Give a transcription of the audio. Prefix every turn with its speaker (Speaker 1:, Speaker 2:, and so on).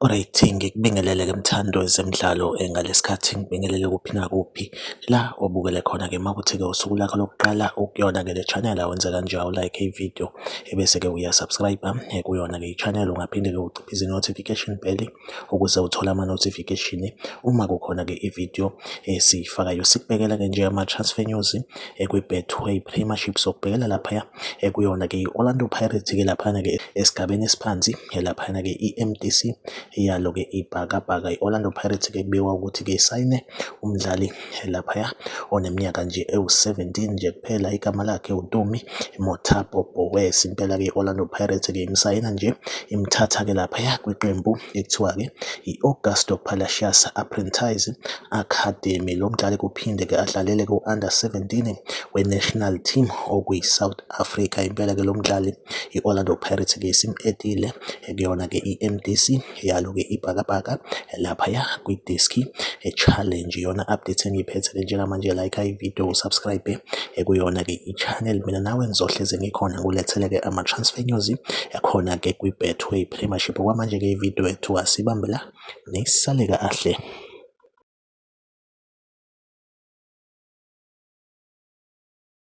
Speaker 1: Alright, ngikubingelele-ke mthando zemidlalo eh, ngalesikhathi ngibingelele kuphi nakuphi la obukele khona-ke makuthi-ke usuku lakho lokuqala ukuyona-ke le channel awenze kanjani u-like ividiyo ebese-ke uyasubscribe eh, kuyona-ke i-channel ungaphinde-ke uciphe izi-notification bell ukuze uthole ama-notification uma kukhona-ke i-video esiyifakayo sikubekela-ke nje ama-transfer news ekwi-betway eh, premiership sokubhekela laphaya eh, kuyona-ke i-orlando pirates-ke laphana-ke esigabeni esiphansi laphana-ke i-mdc yalo-ke ibhakabhaka i-orlando pirates-ke kubikwa ukuthi-ke isayine umdlali laphaya oneminyaka nje ewu-17 nje kuphela igama lakhe uTumi Mothapo Boes impela-ke i-Orlando Pirates-ke imsayina nje imthatha-ke laphaya kwiqembu ekuthiwa-ke i-Augusto Palacios Apprentice Academy lo mdlali kuphinde-ke adlalele ku-under 17 we-national team okuyi-South Africa impela-ke lo mdlali i-Orlando Pirates-ke isim-edile kuyona-ke i-MDC yalo-ke ibhakabhaka laphaya kwidiski challenge iyona update engiyiphethe-ke njengamanje like ividiyo usubscribe kuyona-ke i-channel mina nawe ngizohlezi ngikhona ngulethele-ke ama-transfer news yakhona-ke kwi-betway premiership okwamanje-ke ividiyo yethu asibambe la nisale kahle